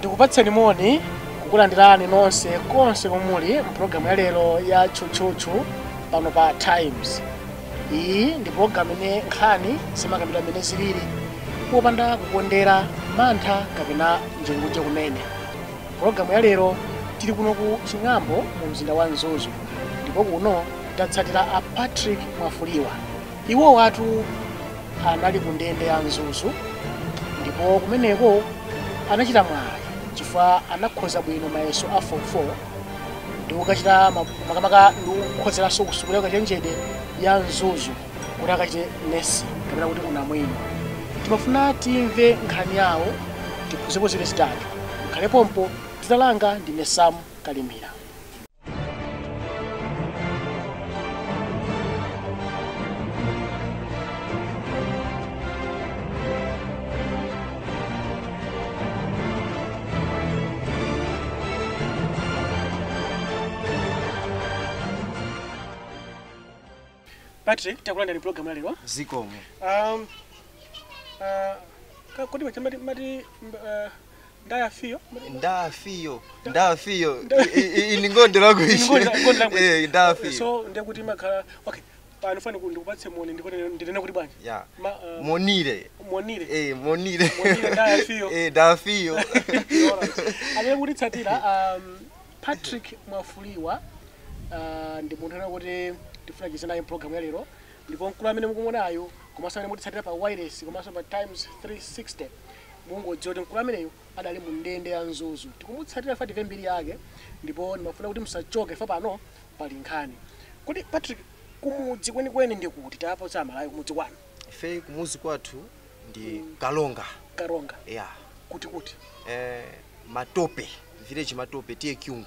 tikupatseni moni kukulandirani nonse konse komuli mpulogalamu ya lero ya tchutchutchu pano pa times iyi ndi pulogalamu imene nkhani zimakambidwa mmene zilili popanda kukondera mantha kapena njengunje kumene pulogalamu ya lero tili kuno ku ching'ambo mu mzinda wa mzuzu ndipo kuno tatsatira a patrick mwafulirwa Iwowatu anali kundende ya Mzuzu ndipo kumeneko anachita mwayi chifukwa anakhoza bwino mayeso a form 4 ndi kukachita ma- makamaka ndi kukhonzeranso kusukulu yakachenjede ya Mzuzu kuti akachite nesi kapena kuti unamwino. Timafuna timve nkhani yawo tiphunzirepo ziwiri zitatu. Mukhale pompo dzina langa ndine Sam Kalimira. patrick takulandirani mpulogalamu ya lero zikomo um, uh, ka- kodi machamba mati mba- uh, ndafiyo ndafiyo ndafiyo ine ngonde lakuishi ndafiyo so nde kuti mumakhala okay pano ndifuna ndikupatse moni ndipo ndinene kuti bwanji ya Ma, uh, monire monire eh monire Monire, ndafiyo. eh ndafiyo amene mukutitsatira um, patrick mwafulirwa uh, ndi munthu amene tikufuna ticheze naye mpulogalamu ya lero ndipo mkulu amene mukumuonayo komanso amene mukutitsatira pa wireless komanso pa times 360 Mungodziwa kuti mkulu ameneyu adali mu ndende ya Mzuzu. Tikumutsatira chifukwa timve mbiri yake ndipo ndimafuna kuti musachoke chifukwa pano pali nkhani. Kodi Patrick, kumudzi kwenikweni ndi kuti? Tapatsani aMalawi kumudzi kwanu. Ife kumudzi kwathu ndi Karonga. Karonga. Yeah. Kuti kuti? Eh, Matope, village Matope, TA Kyungu.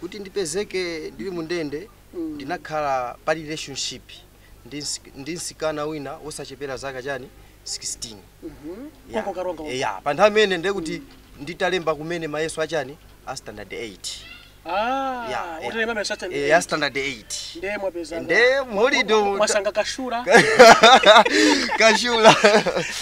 Kuti ndipezeke ndili mundende ndinakhala pa relationship ndi ndi msikana wina wochepera zaka chani 16 ya Konko karonga konko. ya pa nthawi imeneyo ndiye kuti nditalemba kumene mayeso achani a standard 8 Ah, ya ya. utalemba mayeso achani. Eh, a standard 8 Ndiye munapeza. nde mholide Mwasanga kashura. kashula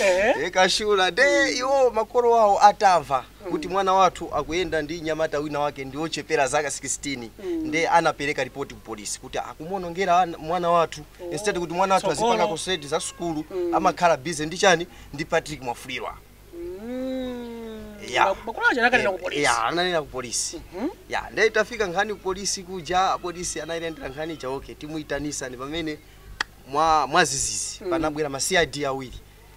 Eh. Eh, kashula nde iwo makolo awo atamva kuti mwana wathu akuyenda ndi mnyamata wina wake ndiochepera zaka 16 nde anapeleka report ku police kuti akumuonongera ana- mwana wathu instead kuti mwana wathu Tsogolo. azipanga concentrate za sukulu amakhala busy ndi chani ndi Patrick Mwafulirwa Yeah. makolo aja anakanena ku polisi ya ananena ku polisi ya nde itafika nkhani ku polisi kuja apolisi anayilendera nkhani ija okay timuyitanisa ndi pamene mwa mwazizizi panabwera ma cid awiri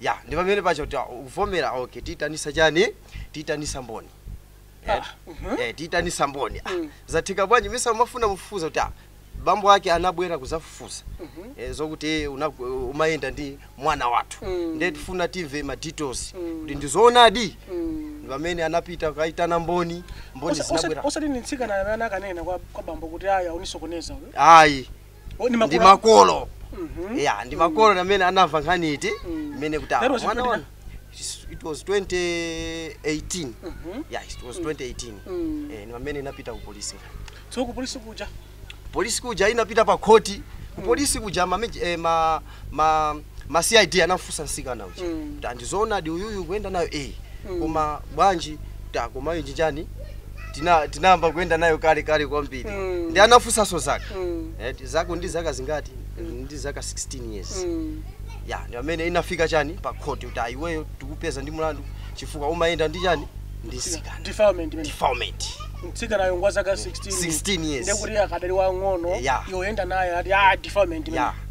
ya ndi pamene pacho kuti ah, ukuvomera okay tiitanisa chani tiitanisa mboni Eh, eh, tiitanisa mboni Ah, zatheka bwanji mesa umafuna mufufuza kuti ah, bambo ake anabwera kuzafufuza eh, zokuti una- umayenda ndi mwana wathu ndiye tifuna timve ma details kuti ndizoonadi ndi pamene anapita kukaitana mboni mboni Osa- osa- zinabwera osati ni mtsikana amene anakanena kwa kwa bambo kuti ayi akunisokoneza uyu ayi Oh, ni ndi makolo. makolo Mhm. ya ndi makolo amene anamva nkhani iti Mm. imene kuti That awa was mwana when, wa- It's- it was 2018 Mhm. yeah it was 2018 Mm. eh ni pamene inapita ku polisi So ku polisi kuja. polisi kuja inapita pa khoti ku polisi kuja ma, maj- eh, ma ma ma cid anamfunsa msikana uja Mm. ta ndizoonadi uyuyu kuyenda nayo eh Mm. koma bwanji ta koma ichi chani tina tinayamba kuyenda nayo kale kale kwambiri Mm. nde anamfunsanso zaka Mm. eh, ti- zako ndi zaka zingati ndi zaka 16 years Mm. ya ndi pamene inafika chani pa khoti kuti ah iweyo tikupeza ndi mlandu chifukwa umayenda ndi chani ndi msikana defilement imene defilement mtsikanayo ngwa zaka 16 16 years. ndekuti akadali wang'ono Yeah. yoyenda naye ati ah defilement imene ya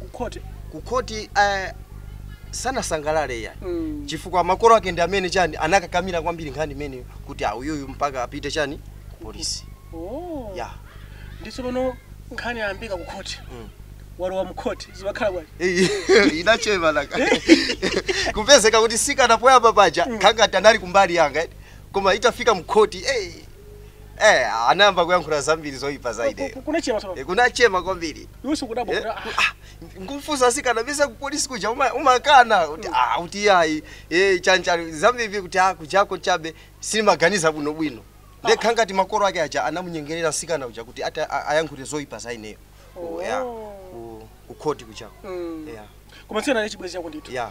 ku khoti ku khoti eh, sanasangalale yayi Mm. chifukwa makolo ake ndi amene chani anakakamira kwambiri nkhani imeneyo kuti ah uyuyu mpaka apite chani ku polisi oh. ya ndi tsopano nkhani yayambika ku khoti Mm. walowa mu khoti zimakhala bwanji Eh, inachema laka kupezeka kuti msikana poyamba paja khangati anali kumbali yanga eh. koma itafika mkhoti eh, Eh, anayamba kuyankhula zambiri zoyipa za ine. kunachema tsono Eh, kunachema kwambiri. iwe sikudabwa Eh, kuti, ah, ah, nkumfunsa msikana mesa ku polisi kuja uma- umakana kuti ah kuti yayi eh chanichani zambiri kuti ah kujako chabe sindimaganiza bwino bwino nde khangati makolo ake aja anamunyengerera msikana uja kuti ati a- ayankhule zoyipa za ineyo Ku- ya, Oh. ku- ku khoti kujako Mm. ya koma mtsikana ndi chibwezi chako ndithu ya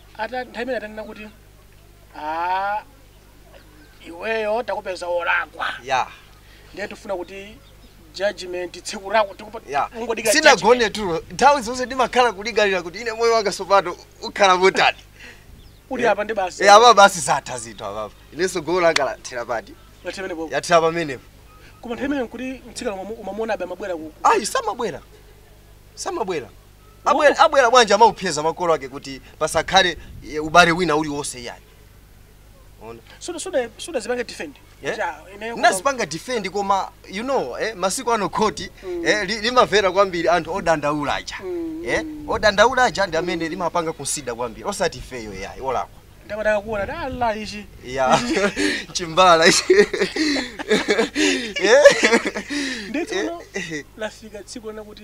ata nthawi imene atanena kuti a iweyo takupeza wolakwa ya ndiye tifuna kuti judgment tsiku lako tikupa- ya ungodikira judgment. sinagone tulo nthawi zonse ndimakhala kulingalira kuti ine moyo wanga tsopano ukhala motani uli apa ndi basi Eh, apa basi zatha zinthu apapa inenso golo langa lathera pati Lathera pamenepo. yathera pamenepo koma nthawi imene nkuti mtsikana umamu- umamuona abe amabwera ku ayi samabwera samabwera abwera, Uwu. abwera bwanji amaopseza makolo ake kuti pasakhale eh, ubale wina uliwonse iyayi Ona. Suda suda sudazipange defend. Eh? Kuti, ah, ineyo koma- ndinazipanga defend koma you know eh, masiku ano khoti eh, li- limamvera kwambiri anthu odandaula aja eh, odandaula aja ndi amene limapanga consider kwambiri osati ifeyo yayi olakwa Ndakataka kuona kuti Allah ichi. ya chimbala ichi. Eh? Nde tsono Eh, eh. lafika tsiku lina kuti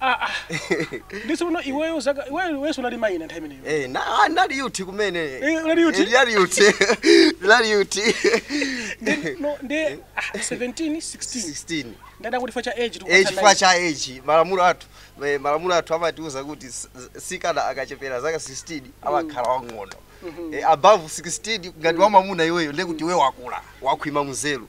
Ah, ah. Nditsono iweyo zaka iweyo weso unali mayi na time imeneyo. Eh, na ah, ndinali youth kumene. Eh, unali youth? Eh, ndinali youth. Ndinali youth. Ndi no ndi ah, 17 16. 16. Ndadati kuti facha age tu. Age facha age. Malamulo athu. Eh, malamulo athu amatiuza kuti mtsikana akachepera zaka 16 mm. amakhala wang'ono. Mm -hmm. Eh, above 16 ngati mm. wamamuna iweyo ndekuti mm. iwe wakula, wakhwima nzeru.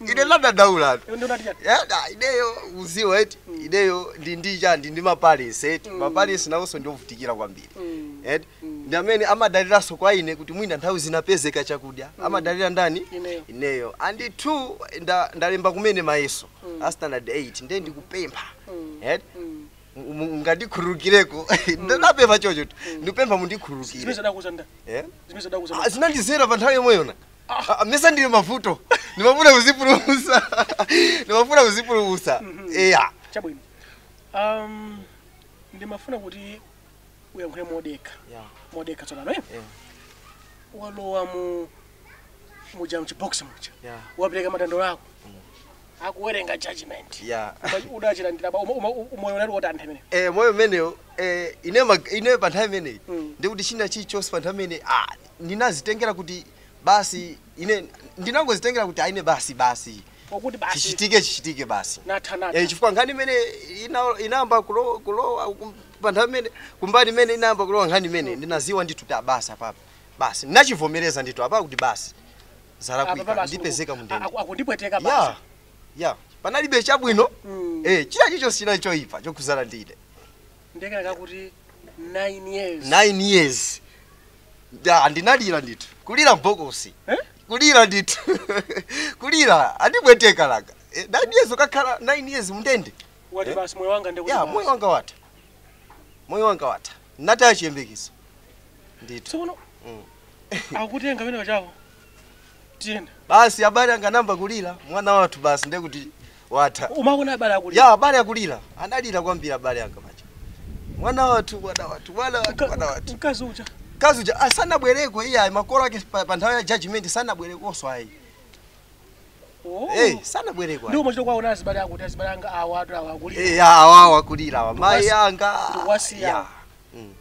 ine ndadadaulatu Iwe ndio unati chani? yada ideyo mudziwa eti ideyo ndi ndi chani ndi maparents eti maparents nawonso ndiovutikira kwambiri eti ndi amene amadaliranso kwa ine kuti mwina nthawi zina apezeka chakudya amadalira ndani Ineyo. ineyo and two nda, ndalemba kumene mayeso a standard 8 ndiye ndikupempha eti Mu- mu- mungandikhululukireko ndinapempha chocho ndikupempha mundikhululukire Zimene zadakuza nda. Eh? Zimene zadakuza Ah, nda. zinandidzera pa nthawi yomweyona Ah, mesa ndili mmavuto ndimafuna kudzipulumutsa ndimafuna kudzipulumutsa eya chabwino um, ndimafuna kuti uyankhule modekha Yeah. modekha tsopano eh? Yeah. walowa mu muja mchibox muja Yeah. wapereka madandaulo ako akuwerengera judgment Yeah. Uda- udachilandira ba- umo- umo- umoyo unali wotani nthawi imene Eh, moyo umenewo eh, ine mag- ine pa nthawi imeneyi Mm. ndikuti china chilichonse pa nthawi imeneyi ah, ndinazitengera kuti basi ine ndinangozitengera kuti a ine basi basi koti basi chichitike chichitike basi ndatha Eh, ndatha chifukwa nkhani imene ina- inayamba kulo- kulowa kum- pa nthawi imene kumbali imene inayamba kulowa nkhani imene ndinadziwa ndithu kuti a basi apapa basi ndinachivomereza ndithu apapa kuti basi Apa zalakwika basi ndipezeka mu ndende aku- akundipweteka ya basi ya panalibe chabwino Mm. eh china chilichonse chinali choyipa chokhudzana ndi ine Ndiye kenaka akuti 9 years. 9 years Da, ndinalira ndithu kulira mbokosi Eh? kulira ndithu kulira andipweteka laka Eh, 9 years ukakhala 9 years mndende Wati Eh? basi moyo wanga ndikuti. ya moyo wanga watha moyo wanga watha ndinataya chiyembekezo ndithu Tsono Mm. akutenga pena chako. tiyeni basi abale anga anayamba kulira mwana wathu basi ndiye kuti watha umaona abale akulira ya abale akulira analira kwambiri abale anga paja mwana wathu mwana wathu mwana wathu mwana wathu mkazi uja mkazi uja sanabwereko iye ayi makolo ake pa, pa nthawi ya judgment sanabwerekonso ayi Oh. hey, sanabwereko ayi. ndio mmachita kuwaona azibale akuti azibale anga awatu awa akulira Eh, ya awawa akulira awa mayi Wasi- anga wasi ya. awa. Mm.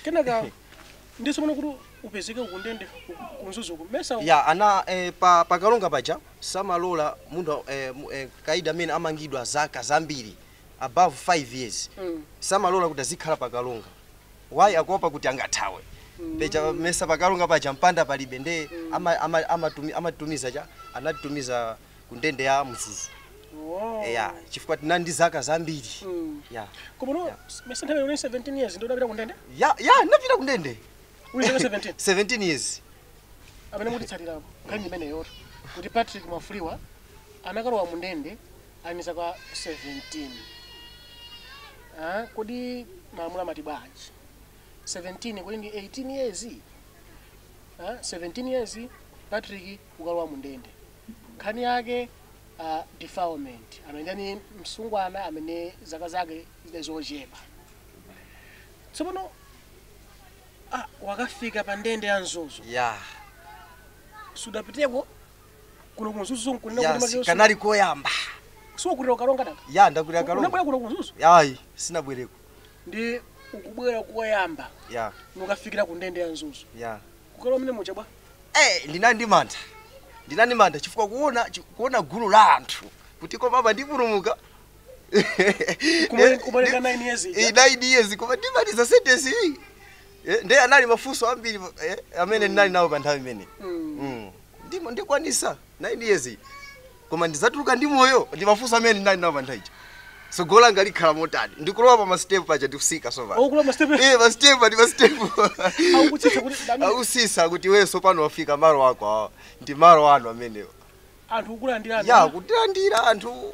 kenaka ndi tsopano kuti upezeke uli kundende ku Mzuzu kuno mesa ya ana eh, pa, pa kalonga paja samalola munthu eh, mu- eh, kaidi amene amangidwa zaka zambiri above 5 years Mm. samalola kuti azikhala pa kalonga why akuopa kuti angathawe paja mesa pa kalonga paja mpanda palibe nde ama- ama- amatumi- amatumiza cha anatumiza ku ndende ya mzuzu Oh. eya chifukwa tinali ndi zaka zambiri Mm. ya Komano mesa nthawi yonse 17 years ndio unapita kundende? ya ya ndinapita ku ndende Uli zaka 17. 17 years Amene mutitsatira apo. Nkhani imeneyo to. Kuti Patrick Mwafuliwa anakalowa mu ndende ali zaka 17. Ah, kodi malamulo amati bwanji? 17 kodi ndi 18 years? Ah, 17 years Patrick kukalowa mu ndende. Nkhani yake a defilement amene ndi msungwana amene zaka zake zidali zochepa. Tsopano ah, wakafika pa ndende ya Mzuzu. Yeah. Sudapiteko kuno ku Mzuzu nkunena kuti Yes, makeyo kanali koyamba. Si kuti ukulira Karonga. Ya ndakulira Karonga. Unabwera kuno ku Mzuzu Ayi, sinabwereko. ndi kubwera koyamba Ya, nukafikira ku ndende ya Mzuzu. ya. Kukalowa mene mucha bwa. Eee ndinali ndi mantha ndinali ndi mantha chifukwa kuona chi- kuona gulu la anthu kuti koma apa ndipulumuka Kuma- kumaliza nine years ija. Eh, nine years koma ndimaliza sentence iyi Eh, nde anali mafunso ambiri eh, amene ndinali nawo pa nthawi imeneyo Mm. ndimo ndikwanisa 9 years iyi koma ndizatuluka ndi moyo ndimafunso amene ndinali nawo pa nthawi ija tsogolo langa likhala motani ndikulowa pa masitepu paja ndikusika so basi Okulowa masitepe. Eh, masitepu ati masitepu Akutsitsa kuti ndamene. akusisa kuti iwe sopano wafika malo ako awa ndi malo anu amenewo Anthu kukulandira. ya kutilandira anthu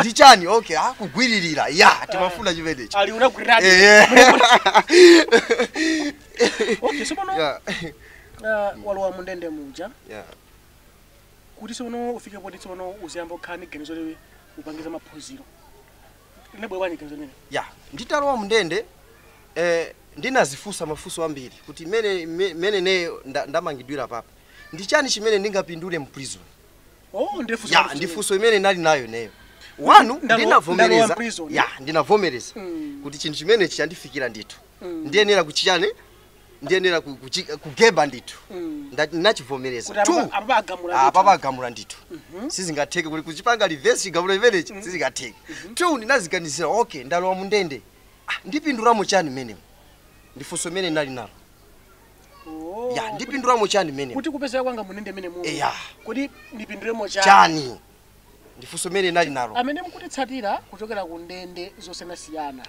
ndi chani okay ah kugwiririra ya timafuna chimenechi ali unagwiradi Eh. okay sopano Yeah. ah, walowa mundende muja Yeah. kuti sono ufike poti sono uziyamba kukhala ndi ganizo loti upange za maphunziro linabwera bwanji ganizo limeneli ya nditalowa mndende eh, ndinazifunsa mafunso ambiri kuti mene me- mene ineyo nda- ndamangidwira papa ndi chani chimene ndingapindule mu prison Oh, ndiye funso lanu ndi funso imene ndinali nayo ineyo wanu Ndalo- ndalowa ndinavomereza m'prison. ya ndinavomereza Mm. kuti chinthu chimene chandifikira ndithu Mm. ndiyenera kuchiyani ndiyenera ku- kuchi- kugeba ndithu Mm. Nda- One ndinachivomereza apa- Two, apa pagamula apa ndithu. pagamula ndithu sizingatheke kuti kuchipanga reverse chigamulo chimenechi sizingatheke two ndinaziganizira okay ndalowa mundende Ah, ndipindulamo chani mmenemo ndifunso imene ndinali nalo Oh, ya kuti- ndipindulamo chani mmenemo kuti kupezeka kwanga mundende mmenemu Eya. kuti ndipindulemo chani chani ndifunso imene ndinali nalo amene mukutitsatira kuchokera ku ndende zosiyanasiyana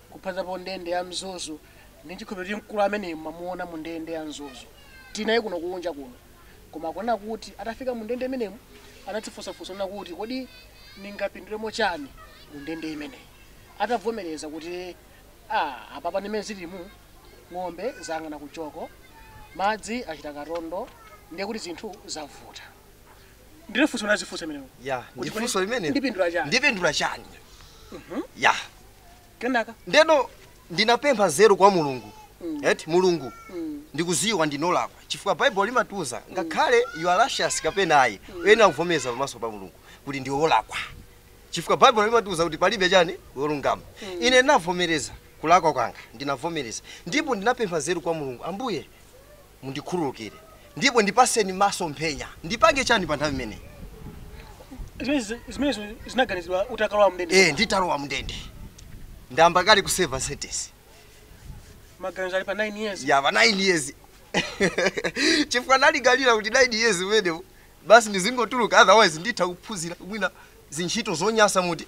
kuphazapo ndende ya mzuzu ndi chikhulupiriro kuti mkulu amene mwamuona mu ndende ya mzuzu tinaye kuno kunja kuno koma kunena kuti atafika mu ndende imenemu anadzifunsafunsa kuti kodi ndingapindulemo chani mu ndende imeneyi atavomereza kuti ah, apapa ndimene zilimo ng'ombe zayang'ana ku joko, madzi achita katondo ndiye kuti zinthu zavuta. Ndilo funso ndinazifunsa imenelo. Ya, Kuti ndi funso kodi limenelo. Ndipindula chani? Ndipindula chani? Ya. Kenaka? Ndeno ndinapempha nzeru kwa Mulungu. Eti Mulungu ndikuziwa ndinolakwa chifukwa Bible limatiuza ngakhale you are righteous kapena ayi uyenera kuvomereza pamaso pa Mulungu kuti ndiwe wolakwa. Chifukwa Bible limatiuza kuti palibe chani wolungama. Ine ndinavomereza kulakwa kwanga. Ndinavomereza ndipo ndinapempha nzeru kwa Mulungu, Ambuye, mundikhululukire ndipo ndipaseni masomphenya. Ndipange chani pa nthawi imeneyi? Zimenezo zinaganizidwa utakalowa mndende? Eeh, nditalowa mndende. Ndayamba kale kuseva sentence. Maganizo ali pa 9 years? Yeah, pa 9 years. Chifukwa nalingalira kuti 9 years imeneyo basi ndizingotuluka otherwise nditha kuphunzira mwina zintchito zonyasa muti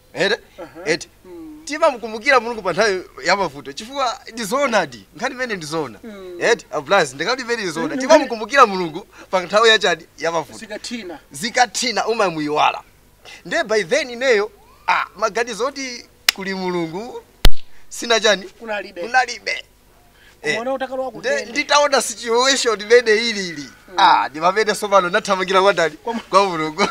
ere eti timamukumbukira mulungu pa nthawi ya mavuto chifukwa ndi zoonadi nkhani imene ndi zoona eti ablazi ndikati imene ndi zoona timamukumbukira mulungu pa nthawi ya chani ya mavuto zikathina zikathina umamuyiwala nde by then ineyo ah, maganizo oti kuli mulungu sina chani kunalibe kunalibe Eh, Umaona utakalowa ku nde- ndende. nditaona situation imene ilili ah ndi pamene sopano nathamangira kwa ndani kwa mulungu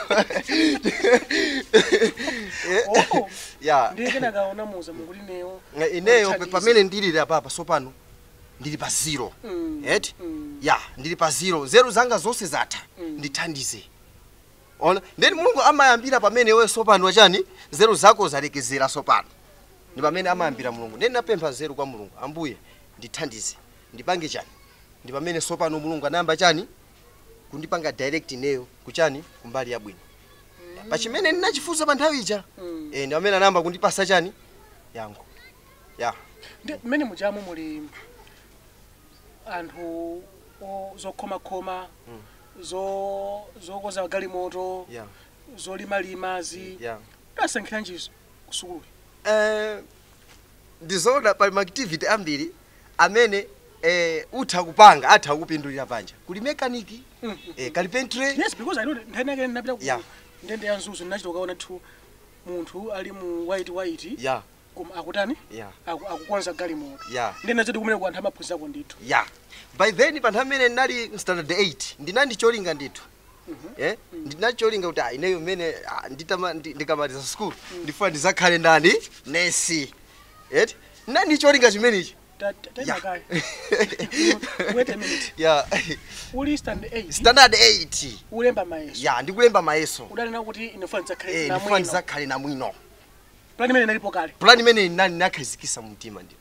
Eh, Oh. ya Ndiye kenaka unamuuza Mulungu kuti ineyo. Ineyo Mundithandize. pamene ndilili apapa sopano ndili pa zero Mm. eti Mm. ya ndili pa zero nzeru zanga zonse zatha ndithandize ona ndeni mulungu amayambira pamene iwe sopano wachani nzeru zako zalekezera sopano ndi pamene amayambira Mulungu. Ndiye ndinapempha nzeru kwa Mulungu, Ambuye, ndithandize, ndipange chani? Ndi pamene sopano Mulungu anayamba chani? Kundipanga direct ineyo kuchani? Kumbali yabwino. Ya, pa chimene ndinachifunsa pa nthawi ija. Eh, ndi pamene anayamba kundipasa chani? Yankho. Ya. Ndiye mmene mujamu muli anthu o- zokhomakhoma zo- zokonza galimoto Yeah. zolimalima zi Yeah. unasankhiranji zo kusukulu? Ndizoona pali ma activity ambiri amene utha kupanga atha kukupindulira panja. Kuli mechanic, carpentry. Yes, because I know that nthawi inayake ndinapita ku ndende ya Mzuzu ndinachita kukaona ndithu munthu ali mu white white koma akutani akukonza galimoto ndiye zoti kumeneko anthu amaphunzirako ndithu. By then pa nthawi imene ndinali Standard 8 ndinali ndi cholinga ndithu. eh ndinali ndi cholinga kuti ah, ineyo mmene ah, nditama ndi- ndikamaliza school ndifuna ndizakhale ndani nesi eti nali ndi cholinga chimenechi Ta- ta- ta- Yeah. kaya. Wait a minute. ya Uli stand 8. standard 8 Ulemba mayeso. ya ndikulemba mayeso Udali kuti ine nfuna nzakhale eh na ndifuna mwino. ndizakhale namwino Plan imene inalipo kale. plan imene nani nakhazikisa mumtima ndithu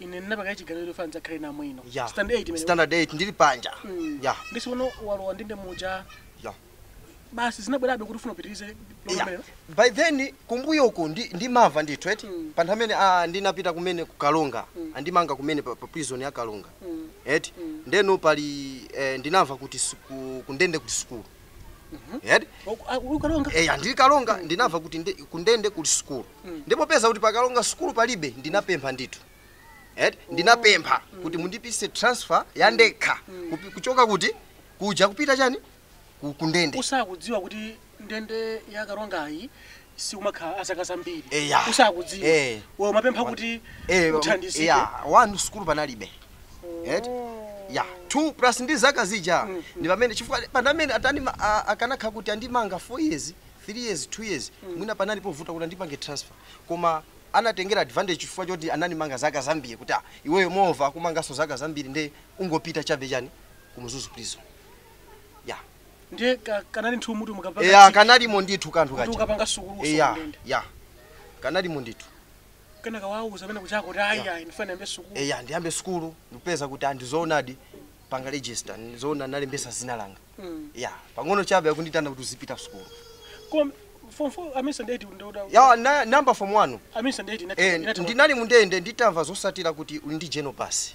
ine ndinapanga chiganizo chofuna ndidzakhale ndi moyo uno ya stand 8 imene standard 8 ndili panja Mm. ya ndiye si uno walowa ndende muja ya basi zinabwerabe kuti ufuna upitirize Yeah. lokamera by then kumbuyoku ndi, ndimamva ndithu eti Mm. pa nthawi imene ah, ndinapita kumene ku Karonga Mm. anandimanga kumene pa, pa prison ya Karonga Mm. eti Mm. ndeno pali eh, ndinamva kuti siku- kundende kuli sukulu Yadi? Oku- a- uli Karonga Eh, ah ndili Karonga ndinamva kuti ndi- kundende kuli sukulu ndiye popeza kuti pa Karonga sukulu palibe ndinapempha ndithu eh, ndinapempha kuti mundipatse transfer ya ndekha kupi- kuchoka kuti kuja kupita chani Ku- kundende osakudziwa kuti ndende ya Karongayi simumakhala azaka zambiri Eya. osakudziwa Eh. iwe umapempha kuti Eh, uthandizike ya, one sukulu panalibe eti ya two plus ndi zaka zija ndi pamene chifukwa panalibe atani ma- a- akanakhala kuti anandimanga 4 years 3 years 2 years mwina sipanali povuta kuti andipange transfer koma anatengera advantage chifukwa choti anandimanga zaka zambiri kuti ah, iweyo mwa akumanganso zaka zambiri nde ungopita chabe chani ku Mzuzu prison ya ndiye ka- kanali ndithu mutu mukapanga eya chiki, kanalimo ndithu kanthu koti kaja ukapanga sukulu eya usondende ya kanalimo ndithu kenaka wauza amene kwachako kuti ayi ayi ndifuna ndiyambe sukulu eya ndiyambe sukulu ndikupeza kuti ah ndi zoonadi apanga register ndizoona ndalembetsa dzina langa Mm. ya pang'ono chabe akunditana kuti uzipita sukulu koma form 4 amisa ndeti ndoda ya na, nayamba form 1 amisa ndeti eh, ndinali mundende nditamva zotsatira kuti uli ndi general pass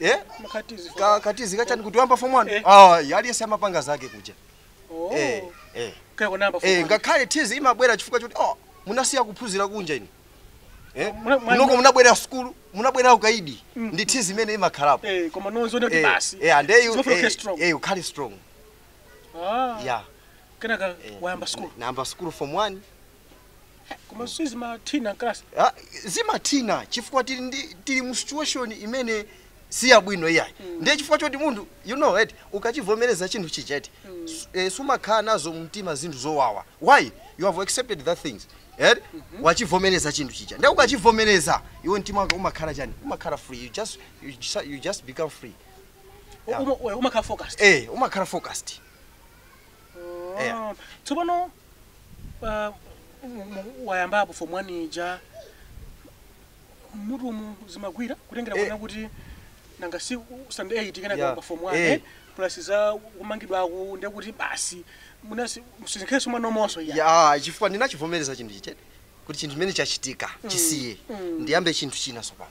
eh Mkatizi. ka katizi kachani kuti wayamba form 1 Eh. ah aliyense amapanga zake kuja Oh. eh eh Kaya kunamba eh fuwa. ngakhale tizi imabwera chifukwa choti oh munasiya kuphunzira kunja inu eh Muna- mwa- munoko simunabwere sukulu munabwera ukaidi Mm. ndi tizi imene imakhalapo Eh, koma ndi zoona kuti eh basi. eh and you Zofuna eh, kukhala strong. eh ukhale strong Ah. yeah Kenaka eh, wayamba school. nayamba sukulu form 1 koma sizimathina mkalasi Ah, zimathina chifukwa tili ndi tili mu situation imene si yabwino iyayi ndiye chifukwa choti munthu you know right ukachivomereza chinthu chija eti su- eh, sumakhala nazo mumtima zinthu zowawa when you have accepted that thing eh wachivomereza chinthu chija ndiye ukachivomereza iwe mtima wako umakhala chani umakhala free you just you just, you just become free Yeah. umakhala focused eh umakhala focused Yeah. Ah, tsopano ah, mu- mu- wayambapo form 1 ija mutumu zimagwira kutengera Eh. kuona kuti nanga si stand 8 kana Yeah. kwa form 1 Eh. eh, plus za kumangidwako nde kuti basi munasi nsinkhesinkhe mwa momwemo ya ya chifukwa ndinachivomereza chinthu chija eti kuti chinthu chimene chachitika chisiye ndiyambe chinthu china tsopano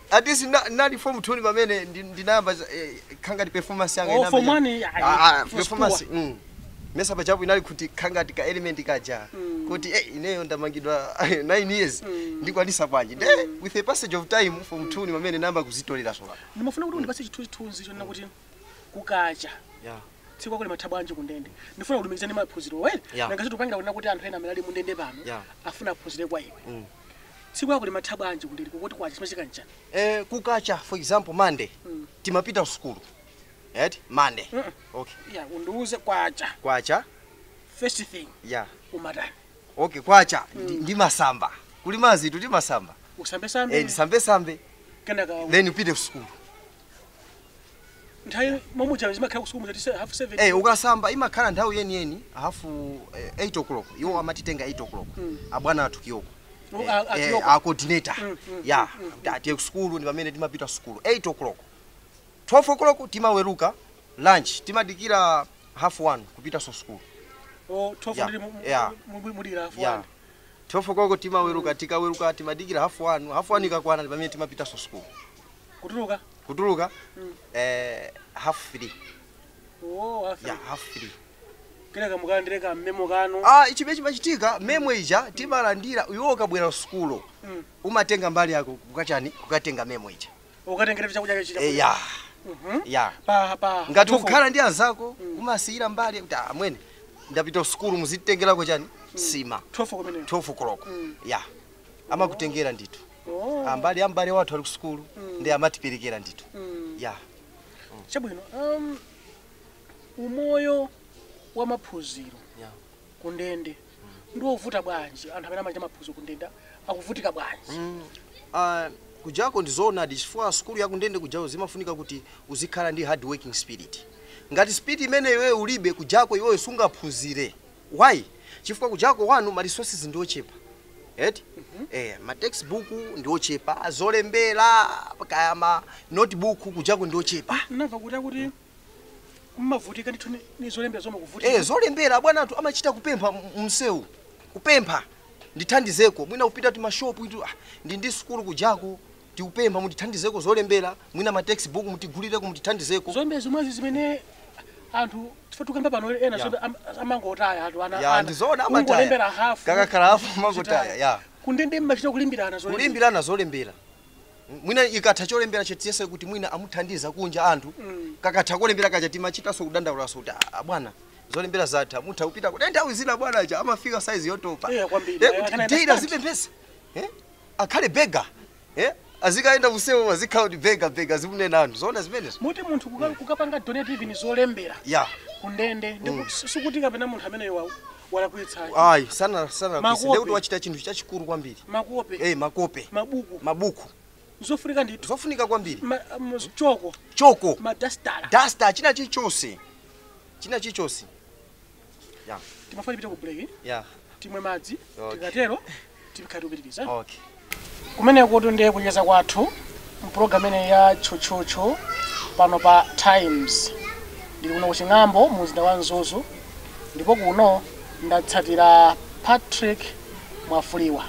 At least nna- nnali form two pamene ndi- ndinayamba za- eh, kukhala ngati performance yanga Oh, inayamba form cha- one, ayi, Ah, ah, first performance, two. mm. ndimayesa pajapo inali kuti kukhala ngati ka element kaja kuti eh, ineyo ndamangidwa 9 years ndikwanisa bwanji nde with the passage of time form two ni pamene ndinayamba kuzitolera soka ndimafuna kuti undipase chithunzithunzi chonena kuti kukacha yeah. tsiku lako limatha bwanji kundende ndifuna kulumikiza ndi maphunziro wene Yeah. nanga zitupangila kunena kuti anthu ena amene ali mundende pano Yeah. afuna aphunzire kwa iwe Tsiku lako limatha bwanji kundende kuti kwacha chimachitika nchani? Eh, kukacha for example Monday mm. timapita kusukulu right? Monday mm -mm. Okay. Yeah, undiuze kwacha. Kwacha. First thing. Yeah. Umatani. Okay, kwacha mm. ndimasamba. Kuli madzitu ndimasamba. Usambe sambe. Eh, ndisambe sambe. Kenaka. Then upite kusukulu. nthawi momuja zimakhala kusukulu muja tiyese half seven Eh, ukasamba imakhala nthawi yeniyeni hafu eh, 8 o'clock iwo amatitenga 8 o'clock abwana athu kiyoko Oh, a- a Kiyoko. a coordinator ya tiyeni kusukulu ndi pamene timapita sukulu 8 o'clock 12 o'clock timaweruka lunch timadikira half 1 kupitanso sukulu o 12 Yeah, ndiri mu- mu- yeah. mu- mu- mudikira half ya one 12 o'clock timaweruka tikaweruka timadikira half 1 half 1 ikakwana ndi pamene timapitanso sukulu kutuluka kutuluka Mm. eh, half three oh half ya half three kenaka mukalandire ka memo kanu ah chimene chimachitika memo ija timalandira iwe ukabwera kusukulu Mm. umatenga mbali yako kukachani kukatenga memo ija ukatengera chakudya chija Eh, ya Mhm. ya pa pa ngati 12. ukhala ndi anzako umasiyira mbali kuti "Ah, amwene ndapita sukulu muzitengerako chani nsima 12 kumene 12 koloko Mm. ya amakutengera ndithu Oh. ambali ya m'bale wathu ali ku sukulu ndi amatiperekera ndithu ya chabwino um, umoyo wa maphunziro Yeah. ku ndende ndi wovuta bwanji anthu amene amachita maphunziro ku ndende akuvutika bwanji Ah, kujako ndizoonadi chifukwa sukulu yakundende kujako zimafunika kuti uzikhala ndi hard working spirit ngati spirit imene iwewe ulibe kujako iwewe sungaphunzire why chifukwa kujako one ma resources ndi ochepa eti eh, ma textbook ndi ochepa zolembera kaya ma notebook kujako ndi ochepa ndamva kuti akuti mmavutika ndithu ni- ni zolembera zomwe kuvutika eh, zolembera bwana anthu amachita kupempha m- msewu kupempha ndithandizeko mwina kupita mu mashopu itu ah, ndi ndi sukulu kujako tikupempha mutithandizeko zolembera mwina ma text book mutigulireko mutithandizeko zombe zomwezi zimene anthu tife tukamba pano ena Yeah. zombe am- amangotaya anthu ana Ya, ana. ndi zoona amataya. Kungolembera hafu Kakakhala hafu amangotaya, zitaya. ya. kundende mmachita kulimbirana zolembera. kulimbirana zolembera mwina ikatha cholembera chija tiyese kuti mwina amuthandiza kunja anthu Mm. kakatha kolembera kaja timachitanso kudandaulanso kuti "Ah, bwana zolembera zatha mutha kupita kuti nthawi zina bwana aja amafika size yotopa Eh, kwambiri. Eh, kuti Akanaenda data stand. zopemphetsa Eh? akhale beggar eh? azikayenda msewu azikhala kuti beggar beggar azimunena anthu zoona zimenezo moti munthu kuka- kukapanga donate even zolembera ya kundende ndiye kuti sikuti kapena munthu ameneyo wa- walakwitsayo ayi sana sana Makope. ndiye kuti wachita chinthu chachikulu kwambiri makope eh makope mabuku mabuku zofunika ndithu zofunika kwambiri Ma- um, choko choko madastala duster china chichonse china chichonse Yeah. timafuna tipite ku break Yeah. timwe madzi Okay. tikatero tikhala tikupitiriza Okay. kumeneko tu ndiye kucheza kwathu mpulogalamu imeneyi ya tchutchutchu pano pa times ndili kuno kuching'ambo mu mzinda wa mzuzu ndipo kuno ndatsatira patrick mwafuliwa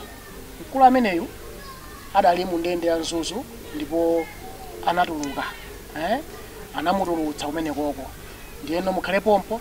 mkulu ameneyu adali mu ndende ya mzuzu ndipo anatuluka eh? anamutulutsa kumenekoko ndiyeno mukhale pompho